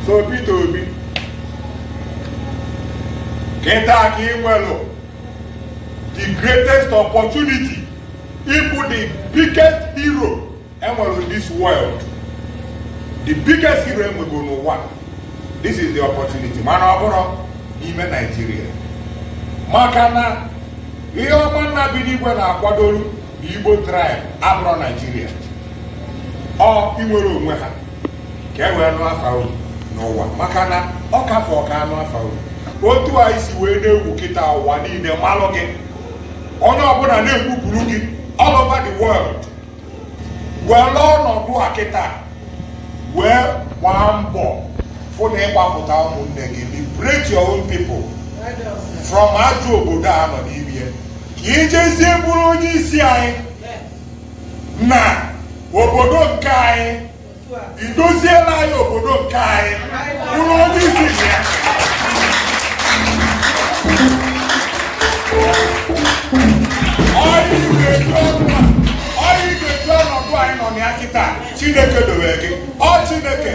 so Peter Obi kịta ka ị nwelụ the greatest opportunity ịbụ the biggest hero enwere in this world the biggest hero enwego n'ụwa this is the opportunity mana ọ bụrọ n'ime Nigeria maka na ihe ọma nna bi n'igwe na-akwadoro igbo tribe abụrọ Nigeria ọ inwere onwe ha ka e wee nụ afa unu n'ụwa maka na ọ ka fọ ka a nụ afa unu otu a ị si wee na-ewu kịta ụwa niile malụ gị onye ọbụla na-ekwupụrụ gị all over the world welụ ọnọdụ a kịta wee gbaa mbọ fụ na ị gbapụta ụmụnne gị liberate your own people from ajọ obodo a nọ n'ime ka i jezie bụrụ onye isi anyị na obodo nke anyị i dozielụ anyị obodo nke anyị bụrụ onye isi ji ya ọ ihe ị ga-eji ọnụ a- ọ ihe ị ga-eji ọnọdụ a ị nọ na ya kịta chineke dowe gị ọ chineke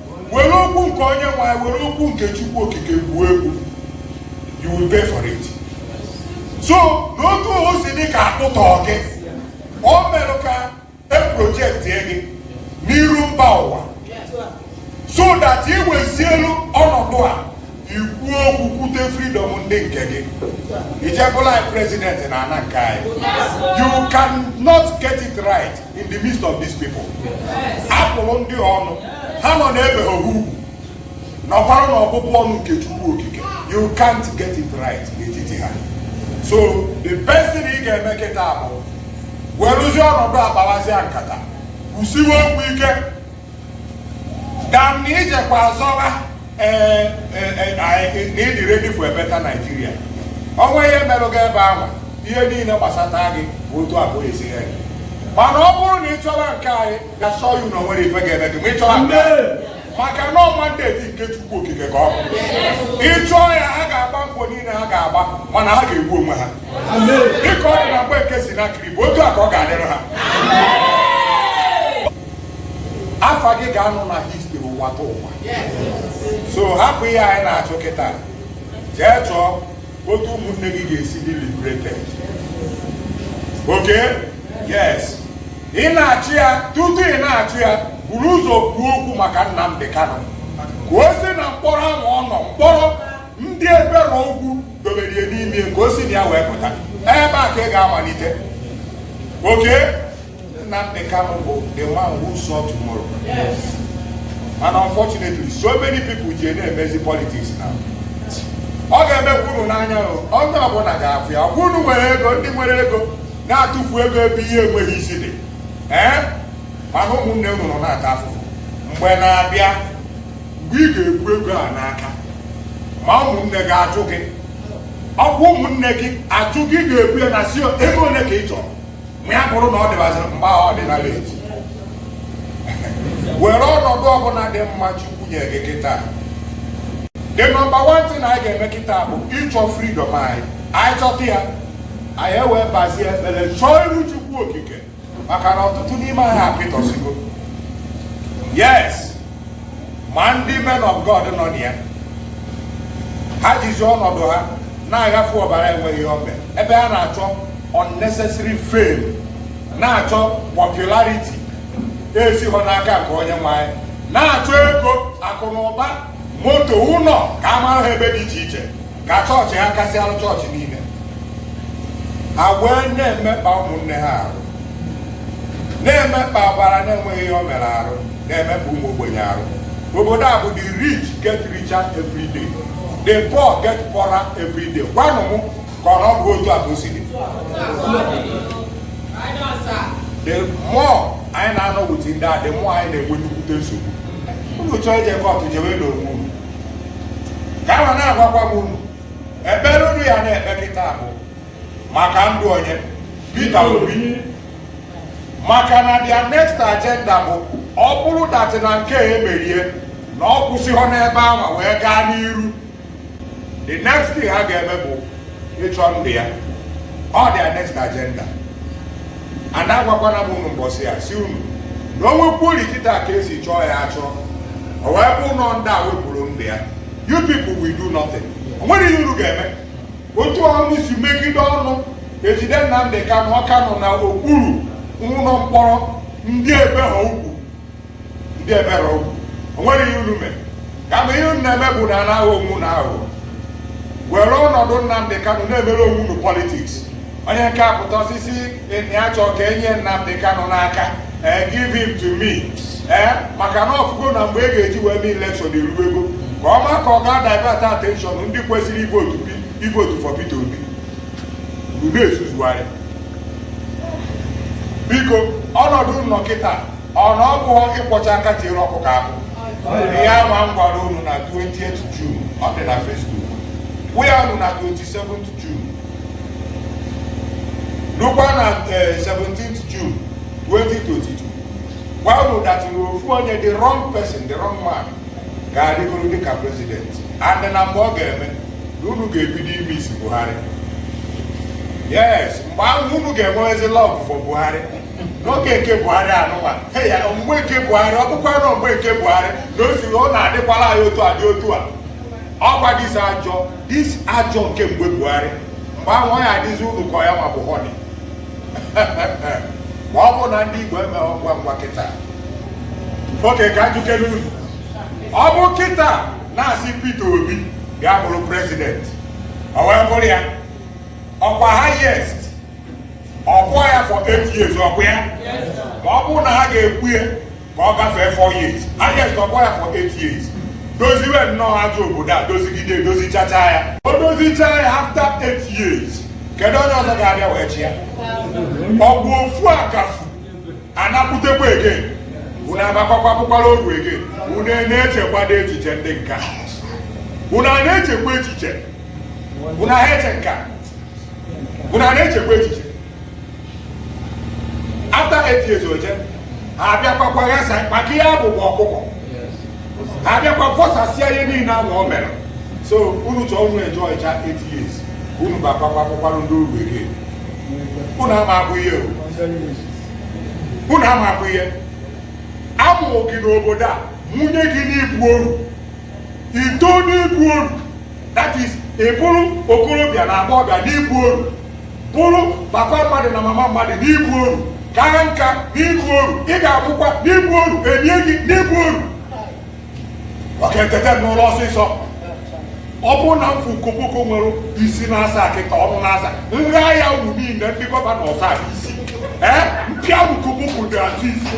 were okwu nke onye nwe anyị were okwu nke chukwu okike gwuo egwu you will pay for it so n'otu o si dị ka a kpụta gị ọ merụ ka e projektie gị n'iru mba ụwa so that i wezielu ọnọdụ a i kwuo okwu kwute freedom ndị nke gị i je bụlụ anyị president na ana nke anyị you cannot get it right in the midst of these people a bụrụ ndị ọnụ ha nọ n'ebe ha ugwu nọkwara na ọbụbụ ọnụ nke chukwu okike you can't get it right n'etiti ha so the best thing ị ga-eme kịta bụ werụzie ọnọdụ a kpawazịa nkata kwusiwe okwu ike than na i jekwa azọwa eh, eh, eh, na ị dị ready for a better Nigeria o nwe ihe merụ gị ebe ahụ ihe niile gbasata gị bụ otu abụọ esi ha mana ọ bụrụ na ị chọwa nke anyị ga assure you na o nwerọ ife ga-eme gị ma ị chọwa nke maka na ọ mandate nke Chukwu Okike ka ọ bụ ị chụọ ya ha ga-agba mbọ niile ha ga-agba mana ha ga-egbu onwe ha dịka ọ dị na mgbe nke Senakerib otu a ka ọ ga-adịrị ha afa gị ga-anọ na history ụwa tụ ụwa so hapụ ihe a ị na-achụ kịta jee chọọ otu ụmụnne gị ga-esi dị liberated okay yes ị na-achụ ya tutu ị na-achụ ya buru ụzọ kwuo okwu maka Nnamdi Kanu ka o si na mkpọrọ ahụ ọ nọ mkpọrọ ndị ebere ugwu dobere ya n'ime ka o si na ya wee pụta ebe a ka ị ga-amalite okay Nnamdi Kanu bụ the man who saw tomorrow. Yes. And unfortunately, so many people ji na-emezi politics now. Ọ ga-emekwa unu n'anya o, onye ọbụla ga-afụ ya. Ọkwa unu nwere ego, ndị nwere ego na-atụfu ego ebe ihe enweghị isi dị. Ee, mana ụmụnne unu nọ na-ata afụfụ. Mgbe na-abịa, mgbe ị ga-ebu ego a n'aka, ma ụmụnne gị ajụ gị. Ọkwa ụmụnne gị ajụ gị ga-ekwu ya na-asị ego ole ka ị chọrọ. ma ya bụrụ na ọ dịbaziri mgbe ahụ ọdịnala eji were ọnọdụ ọbụla dị mma chukwu nye gị kịta the number one thing anyị ga-eme kịta bụ ịchọ freedom anyị anyị chọta ya anyị ewee bazie ekpere chọọ iru chukwu okike maka na ọtụtụ n'ime anyị apịtọsigo yes ma ndị men of God nọ na ya ha jizi ọnọdụ ha na-aghafu ọbara enweghị ihe o mere ebe ha na-achọ unnecessary fame na-achọ popularity esighọ n'aka nke onye nwe anyị na-achọ ego akụ na ụba moto ụlọ ka a mara ha ebe dị iche iche ka chọọchị ha kasịarụ chọọchị niile ha wee na-emekpa ụmụnne ha arụ na-emekpa ọbara na-enweghị ihe o mere arụ na-emekpa ụmụ ogbenye arụ obodo a bụ the rich get richer every day the poor get poorer every day gwanụ m ka ọ bụ otu a ka o si dị the more anyị na-anọ with ndị a the more anyị na-enwe nnukwute nsogbu unu chọọ ije kọtụ jewe n'onwe unu ka ahụ na-agwakwa m unu ekpere unu ya na-ekpe kịta bụ maka ndụ onye Peter Obi maka na their next agenda bụ ọ bụrụ that na nke a emerie na ọ kwụsịghọ n'ebe ahụ wee gaa n'iru the next thing ha ga-eme bụ ịchọ ndụ ya ọ their next agenda ada agwakwana m unu mbọsị ya si unu na o nwekwuru kịta ka esi chọọ ya achọ o wee bụrụ na ndị a wepụrụ ndụ ya you people will do nothing o nwere ihe unu ga-eme otu unu si mechide ọnụ ejide Nnamdị Kanụ ọ ka nọ na okpuru ụlọ mkpọrọ ndị ebe ha ugwu ndị ebere okwu o nwere ihe unu mere kama ihe unu na-eme bụ na unu na-aghọ onwe unu aghụghọ were ọnọdụ Nnamdị Kanụ na-emere onwe unu politics onye nke a pụta ọ sị na ya chọọ ka e nye Nnamdị Kanụ n'aka ee eh, give him to me ee eh, maka na ọfụgo na mgbe e ga-eji wee mee election erugo ka ọ maa ka ọ gaa divert attention ndị kwesịrị ivotu ivotu for Peter Obi unu ezuzugharị biko ọnọdụ unu nọ kịta ọ na ọ bụghọ ịkwọcha aka tiere ọkụkọ akụ ihe ama m gwara unu na 28 June ọ dị na Facebook gwa unu na 27 June lukwa na 17 June 2022 gwa unu that na ofu onye the wrong person the wrong man ga-alịgoro dịka president and na mgbe ọ ga-eme na unu ga-ebido imiss Buhari yes mgbe ahụ unu ga-enwezi love for Buhari n'oge nke buhari anụwa ya mgbe nke buhari ọ bụkwa nọ mgbe nke buhari na o si ọ na-adịkwala anyị otu adị otu a ọkwa this ajọ this ajọ nke mgbe buhari mgbe ahụ ọ ya adịzi unu ka ya ma bụ honey ma ọ bụ na ndị igbo emeghị ngwa ngwa kịta okay ka m jụkene unu ọ bụ kịta na a sị Peter Obi bịa bụrụ president ọ wee bụrụ ya ọkwa highest ọkwa ya for eight years ọkwa ya ma ọ bụrụ na ha ga-ekwe ya ka ọ gafee four years yes ọkwa ya for eight years doziwe nnọọ ajọ obodo a dozigide edozichacha ya o dozicha ya after eight years kedu onye ọzọ ga-abịa wee chi ya ọ bụ ofu akafu anakwutekwa ege unu abakwakwakwụkwala ogwu ege unu na-echekwado echiche ndị nka unu a na-echekwa echiche unu ha eche nka unu a na-echekwa echiche after eight years oje ha abịakwakwa ghasa maka ihe abụbụ ọkụkọ ha abịakwa vọsasịa ihe niile ahụ o mere so unu chọọ unu enjoychaa eight years unu bakwakwa akwụkwara ndị uru ege unu ama abụ ihe unu ama abụ ihe a mụrụ gị n'obodo a mụnye gị n'ịbụ oru i too n'ịbụ oru that is ị bụrụ okorobịa na agbọghọbịa n'ịbụ oru bụrụ papa mmadụ na mama mmadụ n'ịbụ oru kaa nka n'ịbụ oru ị ga-anwụkwa n'ịbụ oru e nie gị n'ịbụ oru ọ ga-eteta n'ụla ọsịsọ ọ bụrụ na m fụ koboko nwere isi n'asaa akịka ọnụ n'asaa nri ahịa unu niile ndị gọvanọ South East ee m pịa unu koboko dị azụ isi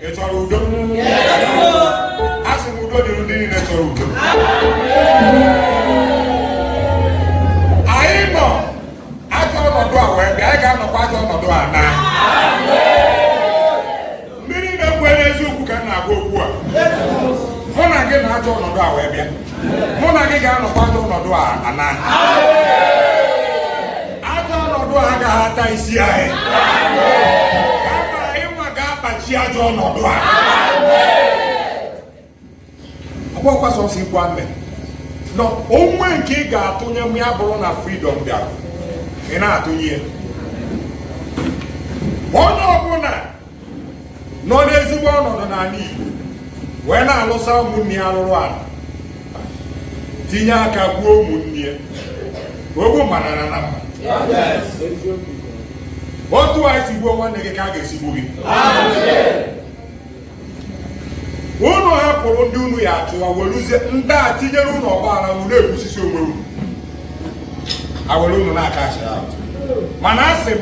Ị chọrọ udo? Asị m udo dịrị ndị niile chọrọ udo. Anyị nọ ajọ ọnọdụ a wee bịa, anyị ga-anọkwa ajọ ọnọdụ a naa. Ndị niile kwere eziokwu ka m na-agwa okwu a. Mụ na gị nọ ajọ ọnọdụ a wee bịa. mụ na gị ga-anọkwa ajọ ọnọdụ a naa ajọ ọnọdụ a agaghị ata isi anyị kama ị nwa ga-akpachi ajọ ọnọdụ a ọ bụghọkwa sọsọ ikwu amen o nwee nke ị ga-atụnye ma ọ bụrụ na freedom bịara ị na-atụnye ya onye ọbụla nọ n'ezigbo ọnọdụ n'ala Igbo wee na-alụsa ụmụnne ya arụrụ ala tinye aka gbuo ụmụnne ya ogbu mma na-ana na mma otu a i si gbuo nwanne gị ka a ga-esi gbuo gị unu hapụrụ ndị unu ya-achụwa werezie ndị a tinyere unu ọgbaghara unu na-egbusisi onwe unu awere unu na-aka achị mana asị m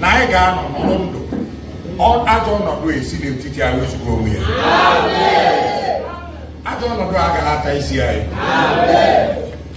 na anyị ga-anọ nọrọ ndụ ajọ ọnọdụ esi n'etiti anyị wezuga onwe ya ajọ ọnọdụ agaghị ata isi anyị